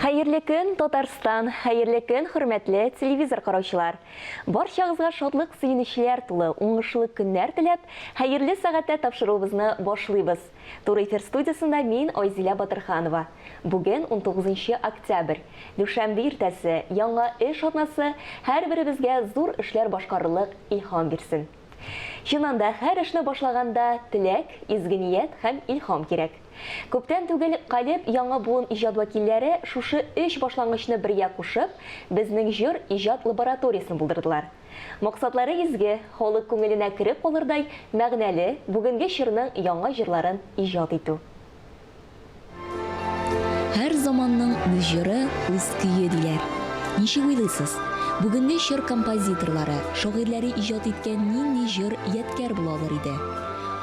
Хәерле көн, Татарстан! Хәерле көн, хөрмәтле телевизор караучылар! Барчагызга шатлык сөенечләр тулы, уңышлы көннәр теләп, хәерле сәгатьтә тапшыруыбызны башлыйбыз. Туры эфир студиясендә мин, Айзилә Батырханова. Бүген, унтугызынчы октябрь, дүшәмбе иртәсе, яңа эш атнасы һәрберебезгә зур эшләр башкарырлык илһам бирсен. Чыннан да, һәр эшне башлаганда теләк, изге ният һәм илһам кирәк. Күптән түгел Калеб яңа буын иҗат вәкилләре шушы өч башлангычны бергә кушып, безнең җыр иҗат лабораториясен булдырдылар. Максатлары изге, халык күңеленә кереп калырдай мәгънәле, бүгенге чорның яңа җырларын иҗат итү. Һәр заманның үз җыры, үз көе, диләр. Ничек уйлыйсыз, бүгенге чор композиторлары, шагыйрьләре иҗат иткән нинди җыр ядкәр була алыр иде?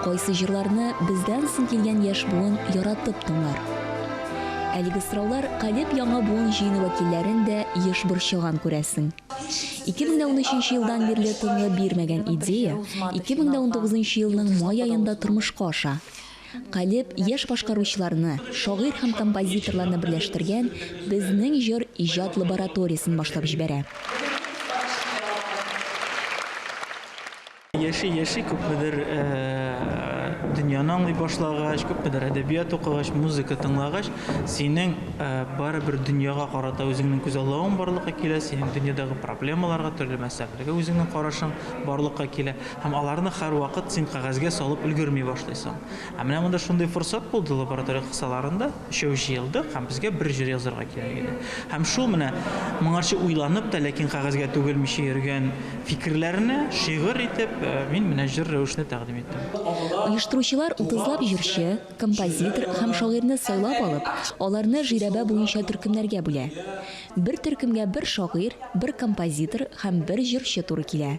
Кайсы җырларны бездән соң килгән яшь буын яратып тыңлар? Әлеге сораулар Калеб яңа буын җыены вәкилләрен дә еш борчыган, күрәсең. 2013 елдан бирле тынлы бирмәгән идея 2019 елның май аенда тормышка аша. Калеб яшь башкаручыларны, шагыйрь һәм композиторларны берләштергән Безнең җыр иҗат лабораториясен башлап җибәрә. Яши-яши, күпмедер дөньяны аңлый башлагач, күпмедер әдәбият укыгач, музыка тыңлагач, синең барыбер дөньяга карата үзеңнең күзаллавың барлыкка килә, синең дөньядагы проблемаларга, төрле мәсьәләләргә үзеңнең карашың барлыкка килә һәм аларны һәрвакыт син кәгазьгә салып өлгерми башлыйсың. Ә менә монда шундый форсат булды лаборатория кысаларында. Өчәү җыелдык һәм безгә бер җыр язарга кирәк иде. Һәм шул менә моңарчы уйланып та, ләкин кәгазьгә түгелмичә йөргән фикерләрне шигырь итеп мин менә җыр рәвешендә тәкъдим иттем. Оештыручылар утызлап җырчы, композитор һәм шагыйрьне сайлап алып, аларны жирәбә буенча төркемнәргә бүлә. Бер төркемгә бер шагыйрь, бер композитор һәм бер җырчы туры килә.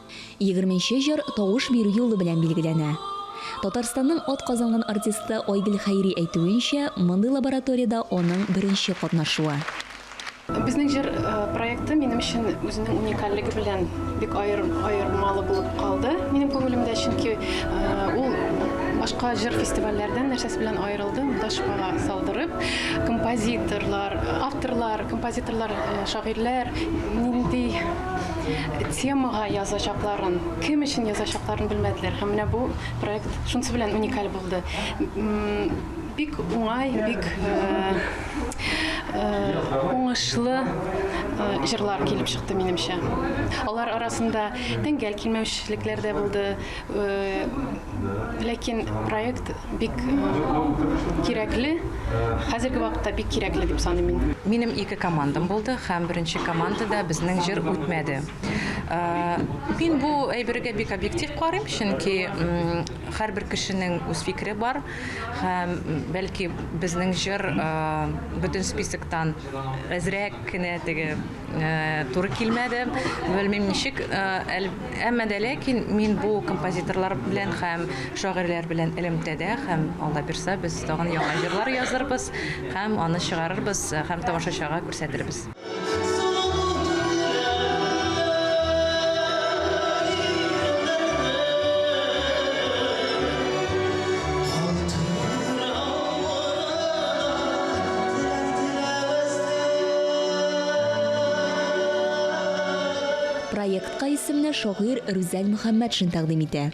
Егерменче җыр тавыш бирү юлы белән билгеләнә. Татарстанның атказанган артисты Айгөл Хәйри әйтүенчә, мондый лабораториядә аның беренче катнашуы. Безнең җыр проекты минем өчен үзенең уникальлеге белән бик аермалы булып калды минем күңелемдә, чөнки ул башка җыр фестивальләрдән нәрсәсе белән аерылды, монда шпага салдырып, композиторлар, авторлар, композиторлар, шагыйрьләр нинди Темага язачакларын, кем өчен язачакларын белмәделәр. Һәм менә бу проект шунысы белән уникаль булды. Бик уңай, бик уңышлы җырлар килеп чыкты минемчә. Алар арасында тәңгәл килмәүчелекләр дә булды. Ләкин проект бик кирәкле, хәзерге вакытта бик кирәкле дип саныйм мин. Минем ике командам булды һәм беренче командада безнең җыр үтмәде. Мин бу әйбергә бик объектив карыйм, чөнки һәрбер кешенең үз фикере бар һәм бәлки безнең җыр бөтен списоктан әзрәк кенә теге Туры килмәде. Белмим ничек, әмма дә ләкин мин бу композиторлар белән һәм шагыйрьләр белән элемтәдә һәм Алла бирса, без тагын яңа җырлар язырбыз һәм аны чыгарырбыз һәм тамашачыга күрсәтербез. Һәм Проектка исемне шагыйрь Рүзәл Мөхәммәтшин тәкъдим итә.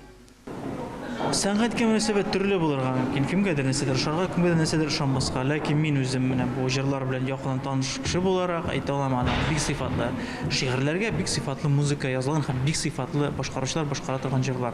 Сәнгатькә мөнәсәбәт төрле булырга мөмкин. Кемгәдер нәрсәдер ошарга, кемгәдер нәрсәдер ошамаска. Ләкин мин үзем менә бу җырлар белән якыннан таныш кеше буларак әйтә алам, аның бик сыйфатлы шигырьләргә бик сыйфатлы музыка язылган һәм бик сыйфатлы башкаручылар башкара торган җырлар.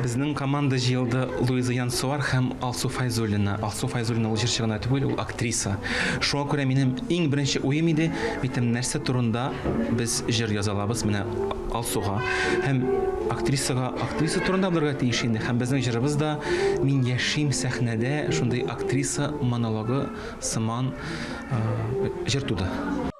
Безнең команда җыелды, Луиза Янсуар һәм Алсу Файзуллина. Алсу Файзуллина ул җырчы гына түгел, ул актриса. Шуңа күрә минем иң беренче уем иде, әйтәм, нәрсә турында без җыр яза алабыз, менә Алсуга һәм актрисага, актриса турында булырга тиеш инде, һәм безнең җырыбыз да Мин яшим сәхнәдә шундый актриса монологы сыман җыр туды.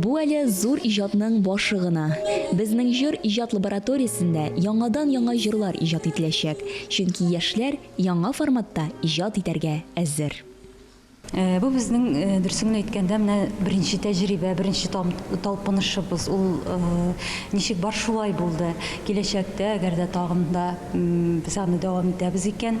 Бу әле зур иҗатның башы гына. Безнең җыр иҗат лабораториясендә яңадан-яңа җырлар иҗат ителәчәк, чөнки яшьләр яңа форматта иҗат итәргә әзер. Бу безнең, дөресен генә әйткәндә, менә беренче тәҗрибә, беренче талпынышыбыз. Ул ничек бар, шулай булды. Киләчәктә, әгәр дә тагын да без аны дәвам итәбез икән,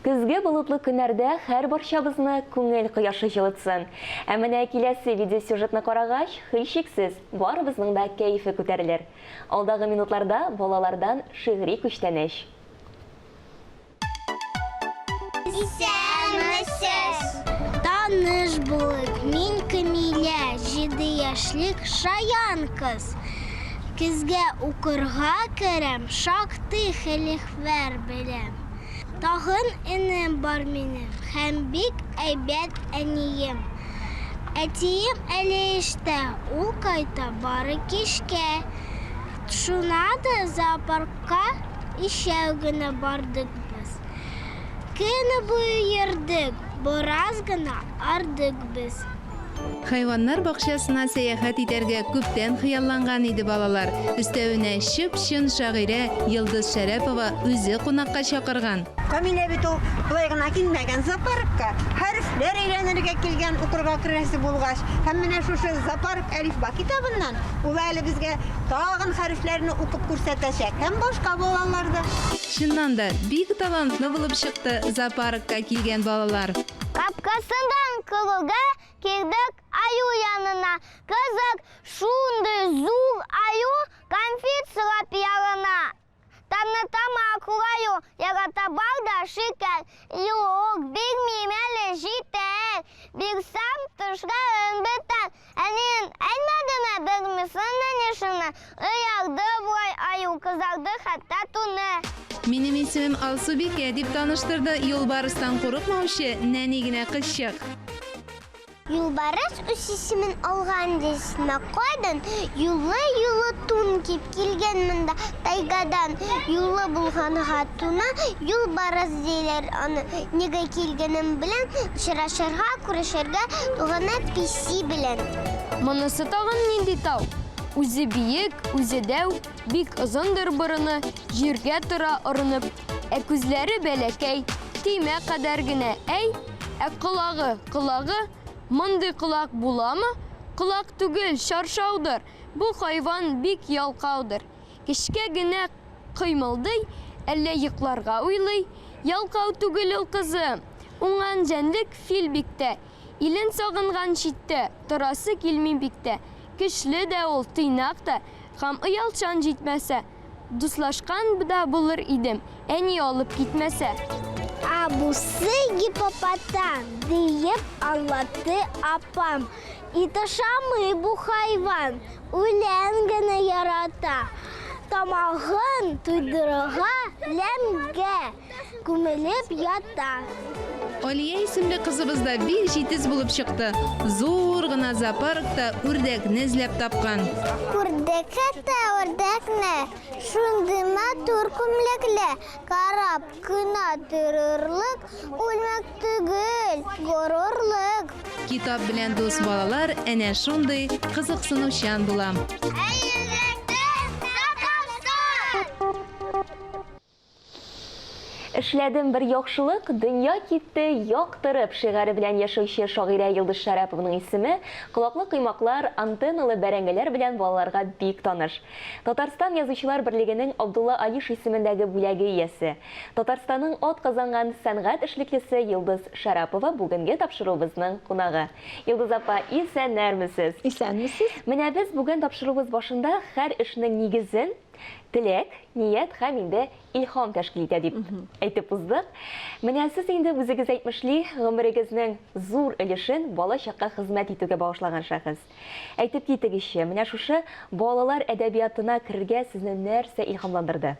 Көзге болытлы көннәрдә һәрбарчабызны күңел кояшы җылытсын. Ә менә киләсе видеосюжетны карагач, һичшиксез, барыбызның да кәефе күтәрелер. Алдагы минутларда балалардан шигъри күчтәнәч. Исәнмесез! Таныш булыйк, мин Камилә, җиде яшьлек шаян кыз. Көзгә укырга керәм, шактый хелихвәр беләм. Тагын энем бар минем һәм бик әйбәт әнием. Әтием әле эштә, ул кайта бары кичкә. Шуна да зоопаркка өчәү генә бардык без. Көне буе йөрдек, бераз гына ардык без. Хайваннар бакчасына сәяхәт итәргә күптән хыялланган иде балалар. Өстәвенә, чып-чын шагыйрә Йолдыз Шәрәпова үзе кунакка чакырган. Камилә бит ул болай гына килмәгән, зоопаркка хәрефләр өйрәнергә килгән, укырга керәсе булгач. Һәм менә шушы Зоопарк әлифба китабыннан ул әле безгә тагын хәрефләрне укып күрсәтәчәк һәм башка балалар да. Чыннан да, бик талантлы булып чыкты зоопаркка килгән балалар. Капкасыннан кылуга кердек аю янына. Кызык, шундый зур аю кәнфит сорап ялына. Танытам акыл аю, ярата бал да шикәр. Юк, бирмим әле, җитәр. Бирсәм, тешләрен бетәр. Әниең әйтмәдеме белмисең мени шуны, Оялды болай аю, кызарды хәтта туны. Минем исемем Алсубикә, дип таныштырды юлбарыстан курыкмаучы нәни генә кызчык. Юлбарыс үз исемен алган дисме, кайдан юллы-юллы тун кип. Килгән монда тайгадан юлы булган хатуны, юлбарыс диләр аны. Нигә килгәнем белән очрашырга, күрешергә туганы песи белән. Монысы тагын нинди тау? Үзе биек, үзе дәү, бик озындыр борыны, җиргә тора орынып. Ә күзләре бәләкәй, төймә кадәр генә, әй! Ә колагы, колагы? Мондый колак буламы? Колак түгел, чаршаудыр! Бу хайван бик ялкаудыр. Кечкә генә кыймылдый, әллә йокларга уйлый. Ялкау түгел ул, кызым. Уңган җәнлек фил бик тә. Илен сагынган читтә, торасы килми бик тә. Көчле дә ул, тыйнак та. Хам оялчан җитмәсә. Дуслашкан да булыр идем, әни алып китмәсә. Ә бусы гипопотам, диеп аңлатты апам. Ит ашамый бу хайван, үлән генә ярата. Тамагын туйдырырга ләмгә. күмелеп ята. Алия исемле кызыбыз да бик җитез булып чыкты. Зур гына зоопаркта үрдәкне эзләп тапкан. Күрдек әтә үрдәкне, шундый матур күмлекле, карап кына торырлык күлмәк түгел, горурлык. Китап белән дус балалар әнә шундый кызыксынучан була. Эшләдем бер яхшылык, дөнья китте яктырып шигаре белән яшәүче шагыйрә Йолдыз Шәрәпованың исеме колаклы коймаклар, антенналы бәрәңгеләр белән балаларга бик таныш. Татарстан Язучылар берлегенең Абдулла Алиш исемендәге бүләге иясе, Татарстанның атказанган сәнгать эшлеклесе Йолдыз Шәрапова бүгенге тапшыруыбызның кунагы. Йолдыз апа, исәннәрмесез! Исәнмесез! Менә без бүген тапшыруыбыз башында хәр эшнең нигезен, Теләк, ният һәм инде илһам тәшкил итә дип әйтеп уздык. Менә сез инде үзегез әйтмешли, гомерегезнең зур өлешен бала-чакка хезмәт итүгә багышлаган шәхес. Әйтеп китегезче, менә шушы балалар әдәбиятына керергә сезне нәрсә илһамландырды?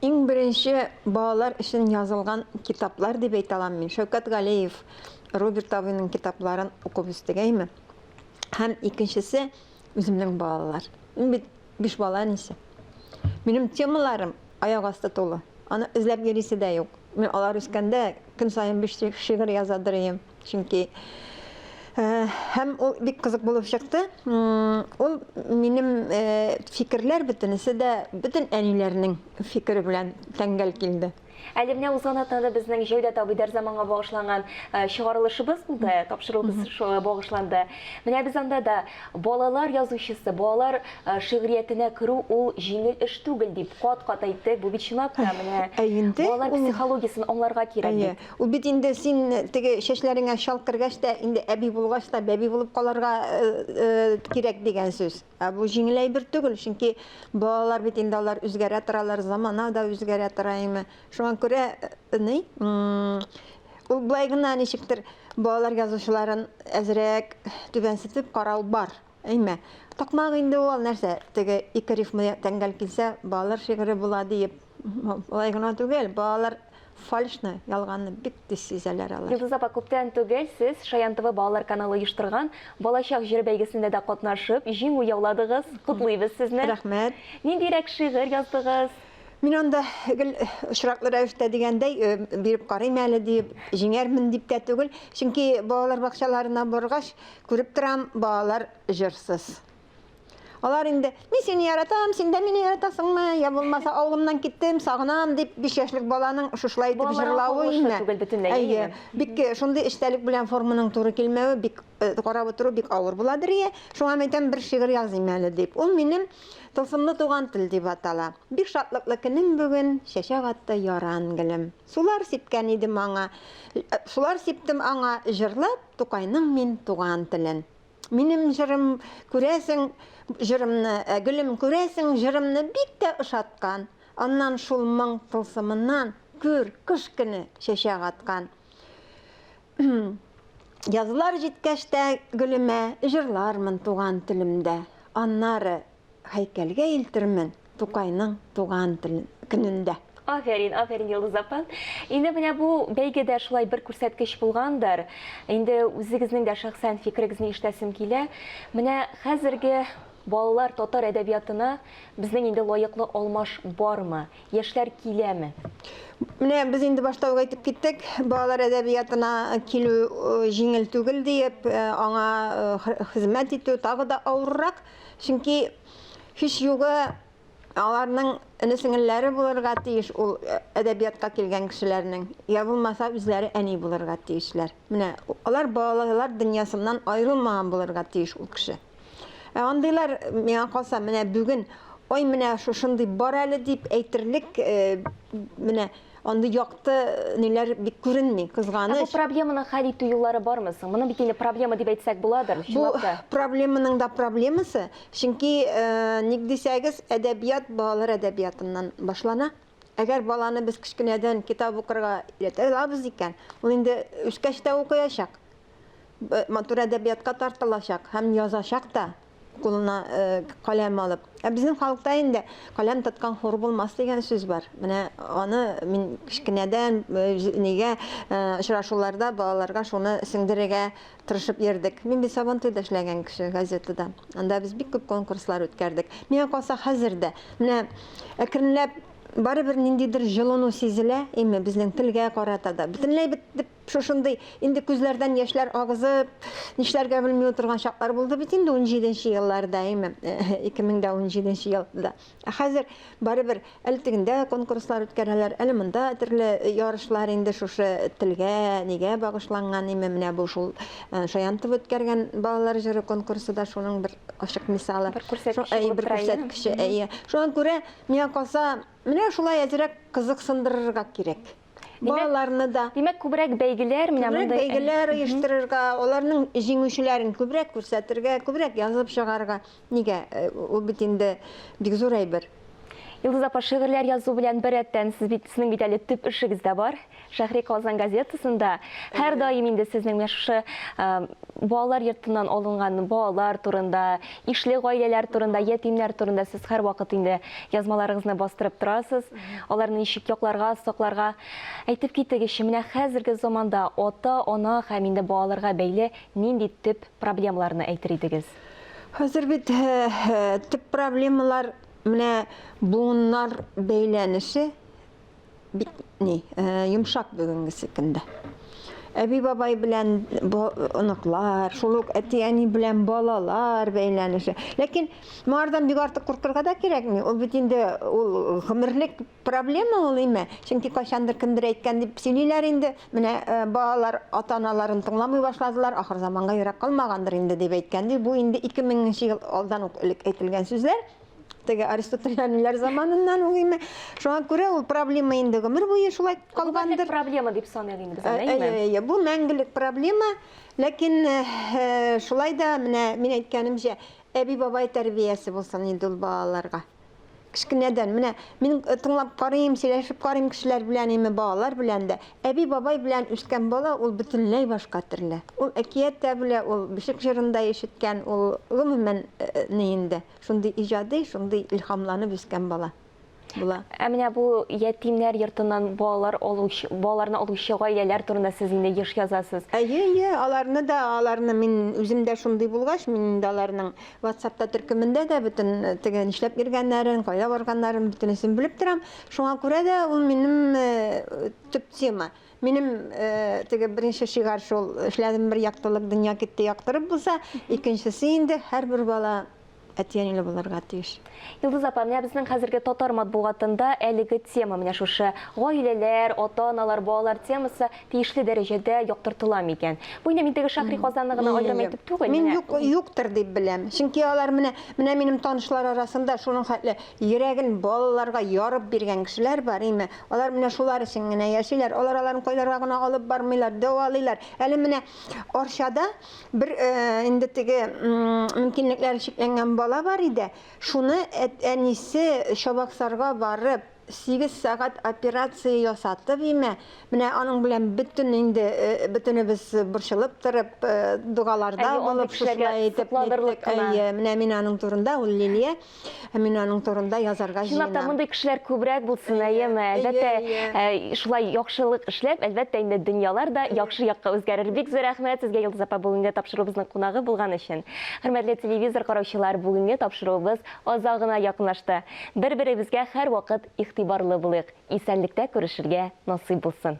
Иң беренче балалар өчен язылган китаплар дип әйтә алам мин. Шәүкәт Галиев, Роберт абыйның китапларын укып үстегәйме. Һәм икенчесе, Үземнең балалар. Мин бит биш бала әнисе. Минем темаларым аяк асты тулы. Аны эзләп йөрисе дә юк. Мин алар үскәндә көн саен биш шигырь яза дөрим. Чөнки һәм ул бик кызык булып чыкты. Ул минем фикерләр бөтенесе дә бөтен әниләрнең фикере белән тәңгәл килде. Әле менә узган атнада безнең Җәүдәт абый Дәрзаманга багышланган чыгарылышыбыз булды, тапшыруыбыз шуңа багышланды. Менә без анда да балалар язучысы, балалар шигъриятенә керү ул җиңел эш түгел дип кат-кат әйтте. Бу бит чынлап та менә балалар психологиясен аңларга кирәк бит. Ул бит инде син теге чәчләреңә чал кергәч тә, инде әби булгач та бәби булып калырга кирәк дигән сүз. Ә бу җиңел әйбер түгел, чөнки балалар бит инде алар үзгәрә торалар, замана да үзгәрә тора име. Шуңа күрә ни, ул болай гына ничектер балалар язучыларын әзрәк түбәнсетеп карау бар, әйме. Такмак инде ул нәрсә, теге ике рифма тәңгәл килсә, балалар шигыре була диеп. Болай гына түгел, балалар фальшны, ялганны бик тиз сизәләр алар. Йолдыз апа, күптән түгел сез Шаян ТВ балалар каналы оештырган Балачак җыры бәйгесендә дә катнашып, җиңү яуладыгыз. Котлыйбыз сезне. Рәхмәт. Ниндирәк шигырь яздыгыз? Мин анда гел очраклы рәвештә дигәндәй биреп карыйм әле диеп, җиңәрмен дип тә түгел, чөнки балалар бакчаларына баргач, күреп торам, балалар җырсыз. Алар инде, мин сине яратам, син дә мине яратасыңмы? Я булмаса, авылымнан киттем, сагынам дип 5 яшьлек баланың шушылай итеп җырлавы инде. Түгел бөтенләй. Әйе. Бик шундый эчтәлек белән форманың туры килмәве бик э, карап утыру бик авыр буладыр ие. Шуңа мин әйтәм, бер шигырь языйм әле дип. Ул минем Тылсымлы туган тел дип атала. Бик шатлыклы көнем бүген, чәчәк атты яран гөлем. Сулар сипкән идем аңа, э, сулар сиптем аңа, җырлап Тукайның мин туган телен. Минем җырым, күрәсең, җырымны, ә, гөлем, күрәсең, җырымны бик тә ошаткан. Аннан шул моң тылсымыннан, күр, кыш көне чәчәк аткан. Язлар җиткәч тә гөлемә, җырлармын туган телемдә. Аннары, һәйкәлгә илтермен Тукайның туган телен көнендә. Афәрин, афәрин, Йолдыз апа. Инде менә бу бәйгедә шулай бер күрсәткеч булгандыр. Инде үзегезнең дә шәхсән фикерегезне ишетәсем килә. Менә хәзерге балалар татар әдәбиятына безнең инде лаеклы алмаш бармы? Яшьләр киләме? Менә без инде башта ук әйтеп киттек, балалар әдәбиятына килү җиңел түгел диеп, аңа хезмәт итү тагы да авыррак. Чөнки һичьюгы аларның эне-сеңелләре булырга тиеш ул әдәбиятка килгән кешеләрнең, я булмаса үзләре әни булырга тиешләр. Менә алар балалар дөньясыннан аерылмаган булырга тиеш ул кеше. Ә андыйлар, миңа калса, менә бүген, ой, менә шушындый бар әле дип әйтерлек, менә Андый якты ниләр бик күренми, кызганыч. Ә бу проблеманы хәл итү юллары бармы соң? Моны бит инде проблема дип әйтсәк буладыр, чынлап та. Бу проблеманың да проблемасы, чөнки ник дисәгез, әдәбият балалар әдәбиятыннан башлана. Әгәр баланы без кечкенәдән китап укырга өйрәтә алабыз икән, ул инде үскәч тә укыячак, матур әдәбиятка тартылачак һәм язачак та. кулына каләм алып. Ә безнең халыкта инде каләм тоткан хур булмас дигән сүз бар. Менә аны мин кечкенәдән нигә очрашуларда балаларга шуны сеңдерергә тырышып йөрдек. Мин бит Сабантуйда эшләгән кеше газетада. Анда без бик күп конкурслар үткәрдек. Миңа калса хәзер дә менә әкренләп барыбер ниндидер җылыну сизелә, име безнең телгә карата да. Бөтенләй бит дип Шушындый, инде күзләрдән яшьләр агызып, нишләргә белми утырган чаклар булды бит инде унҗиде нче елларда, әйме, 2017 нче елда. Ә хәзер, барыбер, әле тегендә конкурслар үткәрәләр, әле монда төрле ярышлар инде шушы телгә, нигә багышланган, әйме, менә бу шул Шаянтов үткәргән балалар җыры конкурсы да шуның бер ачык мисалы. Бер күрсәткече булып тора, әйе? Әйе, бер күрсәткече, әйе. Шуңа күрә, миңа калса, менә шулай әзрәк кызыксындырырга кирәк. балаларны да. Димәк, күбрәк бәйгеләр менә монда. Күбрәк бәйгеләр оештырырга, аларның җиңүчеләрен күбрәк күрсәтергә, күбрәк язып чыгарга. Нигә? Э, ул бит инде бик зур әйбер. Илдыз апа, шигырьләр язу белән беррәттән сез бит сезнең бит әле төп эшегез дә бар. Шәһри Казан газетасында һәр даим инде сезнең менә шушы балалар йортыннан алынган балалар турында, ишле гаиләләр турында, ятимнәр турында сез һәрвакыт инде язмаларыгызны бастырып торасыз. Аларны ничек якларга, сакларга? Әйтеп китегезче, менә хәзерге заманда ата, ана һәм инде балаларга бәйле нинди төп проблемаларны әйтер идегез? Хәзер бит төп проблемалар менә буыннар бәйләнеше бик ни, йомшак бүгенгесе көндә. Әби-бабай белән оныклар, шул ук әти-әни белән балалар бәйләнеше. Ләкин Моңардан бик артык куркырга да кирәкми. Ул бит инде ул гомерлек проблема ул име? Чөнки кайчандыр кемдер әйткән дип сөйлиләр инде. Менә э, балалар ата-аналарын тыңламый башладылар, ахыр заманга ерак калмагандыр инде дип әйткән ди. Бу инде 2000 нче ел алдан ук элек әйтелгән сүзләр. Теге аристотелянилар заманыннан ул име? Шуңа күрә ул проблема инде гомер буе шулай калгандыр. проблема дип саныйбыз инде без аны, э, әйе? Әйе, бу мәңгелек проблема. Ләкин э, шулай да менә мин әйткәнемчә, Әби-бабай тәрбиясе булсын инде ул балаларга. Кечкенәдән, менә мин тыңлап карыйм, сөйләшеп карыйм кешеләр белән, име балалар белән дә. Әби-бабай белән үскән бала ул бөтенләй башка төрле. Ул әкият тә белә, ул бишек җырын да ишеткән, ул гомумән ни инде, шундый иҗади, шундый илһамланып үскән бала. була. Ә менә бу ятимнәр йортыннан балалар алучы, балаларны алучы гаиләләр турында сез инде еш язасыз. Әйе, әйе, аларны да, аларны мин үзем дә шундый булгач, мин инде аларның WhatsApp-та төркемендә дә бөтен э, теге нишләп йөргәннәрен, кайда барганнарын бөтенесен белеп торам. Шуңа күрә дә ул минем э, төп тема. Минем э, теге беренче шигар шул, эшләдем бер яктылык, дөнья китте яктырып булса, икенчесе инде һәрбер бала әти-әниле булырга тиеш. Йолдыз апа, менә безнең хәзерге татар матбугатында әлеге тема, менә шушы гаиләләр, ата-аналар, балалар темасы тиешле дәрәҗәдә яктыртыла микән? Бу инде мин теге Шәһри Казанны гына аерым әйтеп түгел, менә. Мин юк, юктыр дип беләм. Чөнки алар менә, менә минем танышлар арасында шуның хәтле йөрәген балаларга ярып биргән кешеләр бар, име, алар менә шулар өчен генә яшиләр, алар аларны кайларга гына алып бармыйлар, дәвалыйлар. Әле менә Арчада Бер инде теге мөмкинлекләре чикләнгән бала бар иде. Шуны әнисе Чабаксарга барып, 8 сәгать операция ясатып имә, менә аның белән бөтен инде бөтенебез борчылып торып, догаларда булып шушылай итеп әйе, менә мин аның турында ул Лилия. Ә мин аның турында язарга җыенам. Чынлап та мондый кешеләр күбрәк булсын, әйеме? Әлбәттә, э, шулай яхшылык эшләп, әлбәттә инде дөньялар да яхшы якка үзгәрер. Бик зур рәхмәт сезгә, Йолдыз апа, бүгенге тапшыруыбызның кунагы булган өчен. Хөрмәтле телевизор караучылар, бүгенге тапшыруыбыз аза гына якынлашты. Бер-беребезгә һәрвакыт игътибарлы булыйк. Исәнлектә күрешергә насыйп булсын.